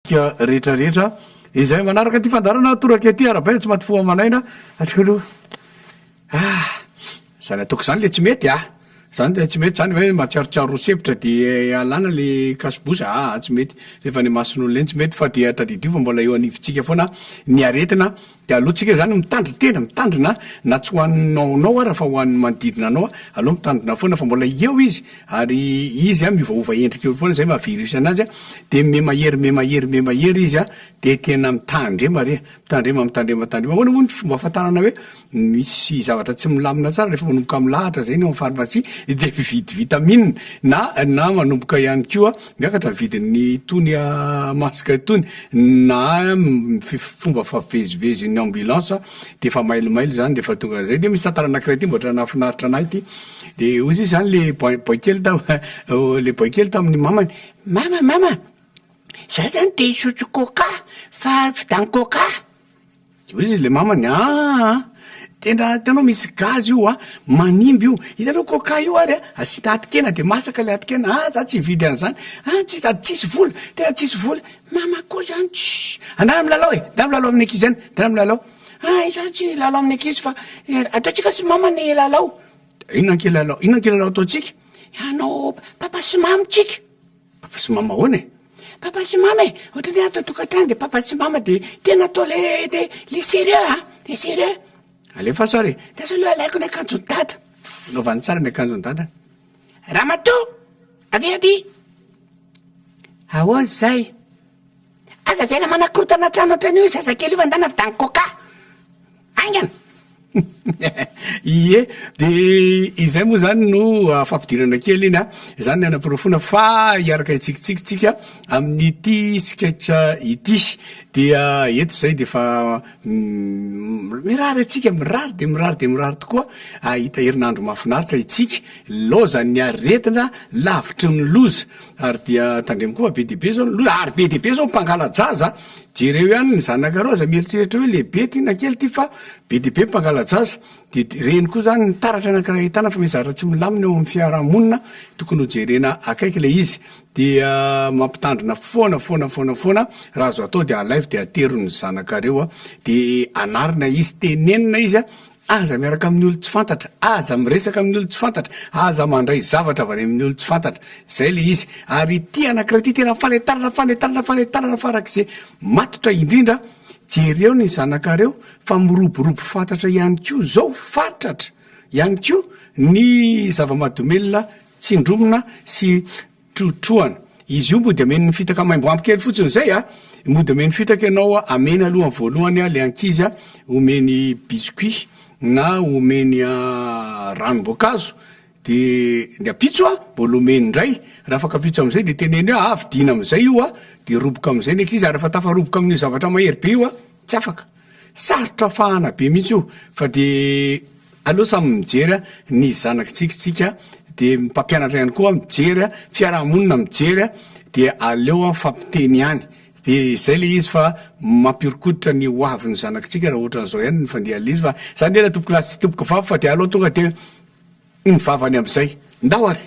tsika rehetra rehetra izay manaraka ity fandaharana toraka ity arabaina tsy maty fo aman'aina atsika aloha ah zany ataoko zany le tsy mety ah zany de tsy mety zany hoe matsiarotsiaro roa sempotra de alana le kasibosa aa tsy mety rehefa any mason'olona eny tsy mety fa dia tadidio fa mbola eo anivontsika foana ny aretina Dia aleo tsika zany mitandry tena, mitandrina na tsy ho anao anao ara fa ho an'ny manodidina anao, aleo mitandrina foana fa mbola eo izy ary izy a miovaova endrika eo foana zay maha virus anazy a, de miha mahery miha mahery miha mahery izy a, de tena mitandrema re, mitandrema mitandrema mitandrema, ahoana moa ny fomba ahafantarana hoe misy zavatra tsy milamina tsara rehefa manomboka milahatra zay ny ao am pharmacie de mividy vitamine na na manomboka ihany koa Miakatra ny vidin'ny itony masque itony na fomba favezivezin'ny ambulance de efa mailomailo zany de efa tonga zay de misy tantara anakiray ty mbola nahafinaritra anahy ty de ozy izy zany le boay kely tam le boay kely tamin'ny mamany mama mama za zany te hisotro coca fa vidan'ny coca. De oe izy le mamany aa tena itanao misy gaz io a manimba io, itanao coca io ary a asiana atokena de masaka le atokena, ah za tsy hividy an'zany ah tsy sady tsisy vola tena tsisy vola, mama koa zany tsy andana milalao e ndana milalao amin'ny ankizy any ndana milalao, ah izaho tsy hilalao amin'ny ankizy fa ataontsika sy mama ny lalao, inona ankilalao inona ankilalao ataontsika, ianao papa sy mama tsika. Papa sy mama ahoana e? Papa sy mama e, ohatrany hoe ato an-tokantrano dia papa sy mama dia tena atao le le le serieux a, le serieux. Alefaso ary, ndeso aloha alaiko ny akanjon'i dada. Anaovany tsara ny akanjon'i dada. Ramatoa! Avia aty! Ahoana izay? Aza avela manakorotana trano ohatran'io io zazakely io fa ndana avy tany coca. Haingana. Ie, de izay moa zany no fampidirana kely iny a, izany ny hanaporofoana fa hiaraka hitsikitsiky tsika amin'ity sketch ity. Dia eto zay dia efa mirary antsika, mirary dia mirary dia mirary tokoa hahita herinandro mahafinaritra itsika, laozan'ny aretina, lavitry ny loza. Ary dia tandremo koa fa be dia be zao ny loza, ary be dia be zao ny mpangala-jaza a! jereo ihany ny zanakareo aza mieritreritra hoe lehibe ity na kely ity fa be dia be ny mpangala-jaza, de reny koa zany ny taratra anakiray ahitana fa misy zavatra tsy milamina eo amin'ny fiarahamonina tokony ho jerena akaiky ilay izy, dia mampitandrina foana foana foana foana raha azo atao dia alaivo dia atero ny zanakareo a! de anarina izy, tenenina izy a! Aza miaraka amin'ny olon-tsy fantatra, aza miresaka amin'ny olon-tsy fantatra, aza mandray zavatra avy any amin'ny olon-tsy fantatra. Izay ilay izy. Ary ity anankiray ity tena fanentanana, fanentanana, fanentanana farak'izay matotra indrindra. Jereo ny zanakareo fa miroborobo fatratra ihany koa izao, fatratra ihany koa ny zava-mahadomelina tsindromina sy trotrohana. Izy io mody ameno ny fitaka maimbo ampy kely fotsiny izay a! Mody ameno fitaka ianao a, ameny aloha ny voalohany a, le ankizy a, omeny biscuit na omeny ranom-boankazo, de ny ampitso a, mbola omeny indray, raha afaka ampitso am'zay de teneno hoe a, fidiana am'zay io a, de roboka am'zay ny ankizy, ary refa tafaroboka amin'io zavatra mahery be io a, tsy afaka. Sarotra fahana be mihitsy io fa de aleo samy mijery a ny zanakitsika tsika de ny mpampianatra ihany koa mijery a fiarahamonina mijery a de aleo a mifampiteny ihany de zay le izy fa mampiorikoditra ny ho avy ny zanakitsika raha ohatra an'zao ihany ny fandehan'le izy fa zany de tompoko lahy sy tompoko vavy fa de aleo tonga de ny vavany am'zay ndao ary.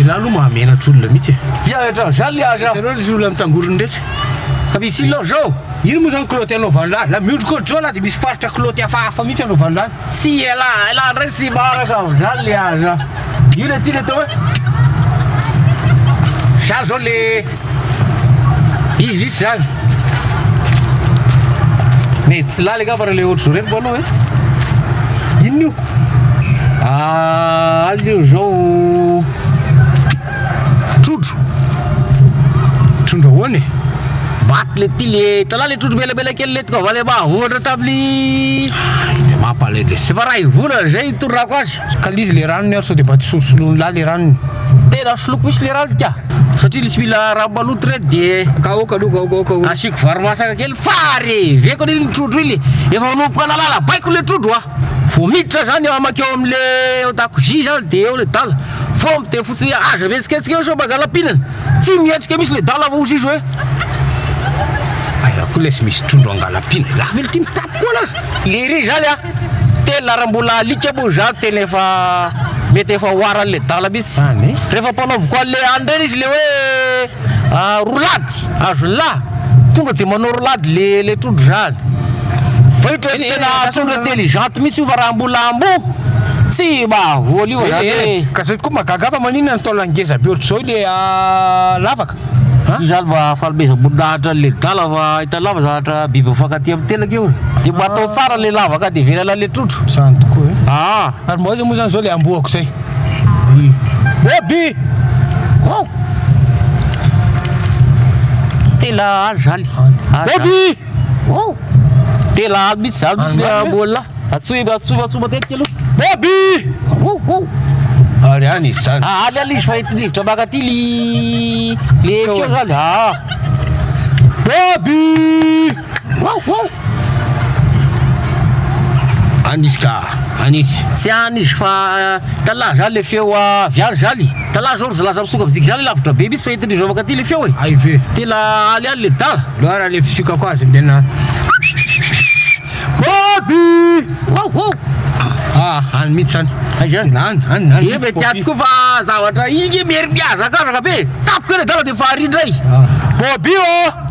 Ialahy aloha mahamenatra olona mihitsy e. Dia rehetra an'izany le aza. Ianao ilay olona mitangorona rehetra. Ka misy inona izao? Ino moa izany kilaoty anaovan'ilahy? La miondrika ohatr'izao lahy dia misy faritra kilaoty hafahafa mihitsy anaovan'ilahy. Tsy ela ela ndray tsy maraka ao zany le aza. Io le ty le atao hoe zany zao le izy izy zany. Ne tsy laly angamba le ohatry zao reny balo e. Inona io? Ah, alio zao Trondro. Trondro ahoana e? Vato le ty le tala le trondro belabela kely le tonga vale mahavoatra tamin'ny de mampalay le sefa ray volana zay itorako azy ka l'izy le ranony ary sao de mba tsy solosoloin'ny lahy le ranony tena soloiko misy le ranony ka satria tsy mila rano maloto re de ka aoka aloha aoka aoka aoka asiako vary masaka kely fa reveko le trondro iny efa manomboka nalala baiko le trondro a vao miditra zany amakeo am'le dakozia zany de eo le dala Vomb dia fotsiny hoe aza mihetsiketsika eo sao mangala pinana. Tsy mihetrika mihitsy le dala vao zizo e. Aiza koa lesy misy trondro angala pinana. Lava elo ty mitapy koa lah. Lery zany a! Tena raha mbola alika moa za tena efa mety efa ho aran'le dala mihitsy. Rehefa mpanaoviko an'le any reny izy le hoe. ah, roulade azo ny lahy tonga de manao roulade le le trondro zany fa io tena tena trondro intelligente mihitsy io fa raha mbola amboa tsy mahavoa io zany eh, eh. ka zay tokoa magaga fa maninona ny taola ngeza be ohatr'izao le ah, lavaka io zany mba fanomezam-boninahitra an'le dala fa hita lava zavatra biby mifankatia amin'ny telaka io de mba atao tsara le lavaka de velana le trondro zany tokoa e aa ary mba aiza moa zany zao le amboako zay Bobi! Oh! Tela aly zany. Bobi! Oh! Tela aly mihitsy zany mihitsy le ambola. Atsoy atsoy atsoy matetika aloha. Bobi! Oh oh! Ary any izy zany. Ah, aly aly izy fa ity rivotra maka ty li le feo zany. Ah! Bobi! Anisy ka! Anisy! Tsy anisy fa tala zany le feo avy any zany. Tala zao ry zalahy samy soka viziky zany lavitra be mintsy fa entin'izy ireo mankaty le feo e. Hay ve? Tena aly any le tala. Loara le fisiokako azy dia na Poppy! Waouh waouh! Ah, any mintsy any. Hay zany. Any, any, any. Eny mety aty koa fa zavatra iny nge mierimihazakazaka be. Tapiko eny adala dia fahary indray. Poppy ô!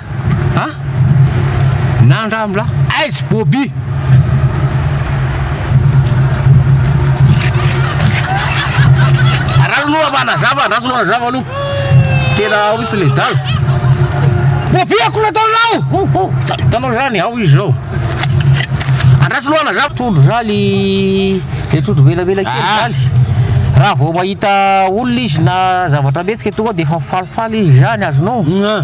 An! Na andramo lah! Aiz Bobi! Ra aloha mba anazava andraso aloha anazava aloha Tena ao mitsy le dala Bobi akory nataonao! Hitanao zany ao izy zao Andraso aloha anazava Trondro zaly Le trondro velavela kely ah. zaly Raha vao mahita olona izy na zavatra mihetsika tonga dia efa falifaly izy zany azonao? Ah.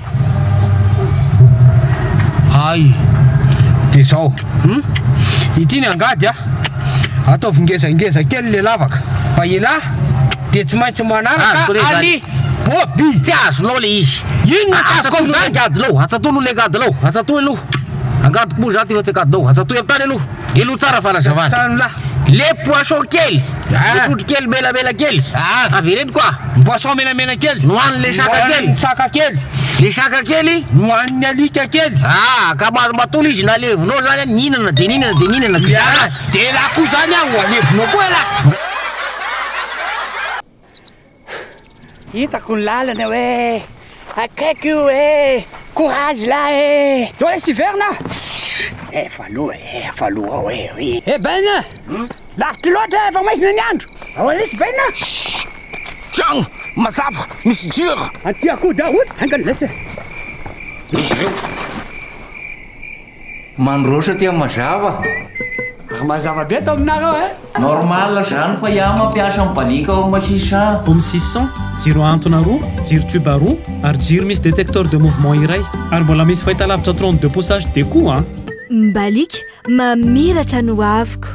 Ay de zao hum ity ny angady a ataovy ngezangeza kely le lavaka fa elah de tsy maintsy manaraka Azoko rehefa- ali bobi Tsy azonao le izy. Inona no tsy azoko Atsatoy aloha le amin'izany? angadinao, atsatoy aloha le angadinao. Atsatoy aloha. Angadiko moa izany ty fa tsy angadinao. Atsatoy amin'ny tany aloha. Elo tsara fanazavana. Le poisson kely, le trondro kely menamena kely, avereno koa. Ny poisson menamena kely nohanin' le saka kely. Nohanin'ny saka kely. Le saka kely nohanin'ny alika kely. Aa ka ma- matola izy nalevinao zany an, nihinana de nihinana de nihinana ky zaka an. De elah koa zany an, ho alevinao koa elah. Hitako ny lalana hoe akaiky io e! Courage lahy e! Zao lesy hiverina ah! Efa aloha e! Efa aloha ao e! Eh Ben a! Lavitra loatra e! Efa maizina ny andro! Ahoana lesy Ben a! Tragno mazava misy jiro! Antia koa daholy! Haingana lesy e! Izy ireo! Mandroso aty mazava. Ary mazava be ato aminareo eh. Normal zany fa iah mampiasa ny balika ao ma six cents. Home six cents, jiro ahantona roa, jiro tube roa, ary jiro misy détecteur de mouvement iray. Ary mbola misy fahitalavitra trente deux pouces HD koa an. Ny balika mamiratra ny hoaviko.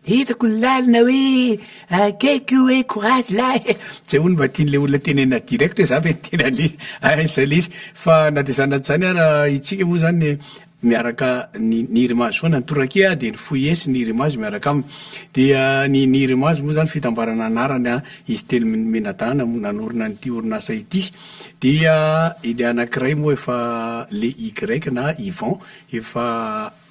Hitako ny lalina hoe akaiky io hoe courage lahy e! Zay hono mba tian'ilay olona tenenina direct hoe za ve tena le aiza ilay izy. Fa na dia izany na dia izany ara isika moa izany miaraka ny ny rimazy foana. Ny torakia dia ny foies, ny rimazy miaraka aminy. Dia ny ny rimazy moa izany fitambarana anarana izy telo mi- mianadahy no nanorina an'ity orinasa ity. Dia ilay anankiray moa efa le Y na Yvan efa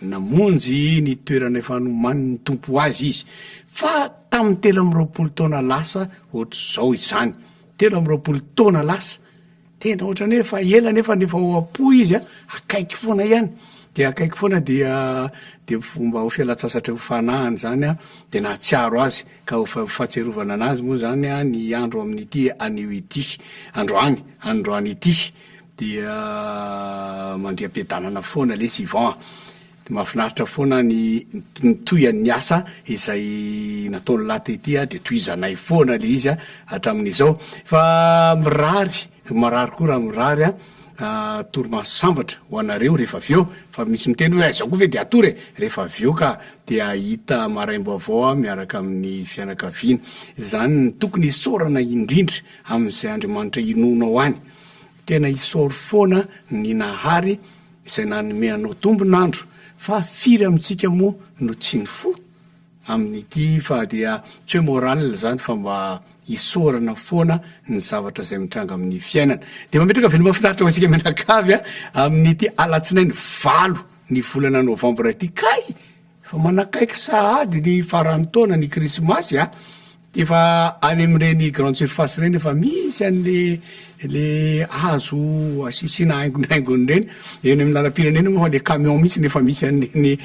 Namonjy ny toerana efa nomanin'ny Tompo ho azy izy, fa tamin'ny telo amby roapolo taona lasa ohatr'izao izany. Telo amby roapolo taona lasa. Tena ohatrany hoe efa ela nefa ny efa ao am-po izy a, akaiky foana ihany. Dia akaiky foana dia dia fomba ho fialan-tsasatra ho fanahiny izany a, dia nahatsiaro azy. Ka ho fa- fahatsiarovana anazy moa izany a ny andro amin'ity anio ity, androany, androany ity. Dia mandriam-piadanana foana lesy Yvan a! Dia mahafinaritra foana ny ny tohian'ny asa izay nataon'i Lahy tety a! Dia tohizanay foana le izy a! hatramin'izao. Fa mirary, marary koa raha mirary a! torimaso sambatra ho anareo rehefa avy eo, fa misy miteny hoe aiza koa ve dia hatory e! rehefa avy eo ka dia hahita maraim-baovao aho miaraka amin'ny fianakaviana. Izany no tokony isaorana indrindra. amin'izay Andriamanitra inoanao any. Tena isaory foana ny Nahary izay nanome anao tombon'andro, fa firy amintsika moa no tsy nifoha? Amin'ity fa dia tsy hoe morale izany fa mba isaorana foana ny zavatra izay mitranga amin'ny fiainana. Dia mametraka veloma finaritra ho antsika mianakavy amin'ity alatsinainy valo ny volana novambra ity. Kay! Efa manakaiky sahady ny faran'ny taona ny krismasy a, de efa any amin'ireny grande surface ireny efa misy an'le le hazo asisiana haingonaingony ireny, eny amin'ny lalam-pirenena moa fa le camion mihitsy no efa misy an'ireny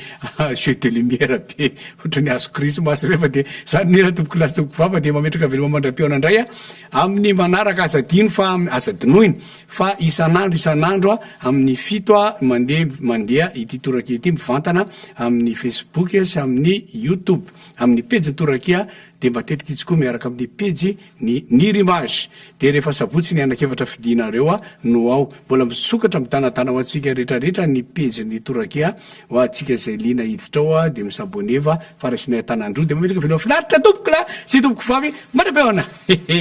jeux de lumière be ohatran'ny hazo krismasy ireny fa de zany mi ra tompokolahy sy tompokovavy fa de mametraka veloma mandram-pihaona indray a. Amin'ny manaraka aza adino fa aza dinoina fa isan'andro isan'andro amin'ny fito ha mandeha mandeha ity torakia ity mivantana amin'ny facebook sy amin'ny youtube amin'ny pejin'ny torakia dia matetika itsy koa miaraka amin'ny pejy ny nirimage dia rehefa sabotsy ny anakefatra fidinareo a no ao mbola misokatra mitanatana ho antsika rehetrarehetra ny pejin'ny torakia ho antsika izay lina hiditra ao a dia misaboneva Fa raisinay an-tanan-droa dia mametraka veloma finaritra tompokolahy sy tompokovavy manam-peona! Hehe.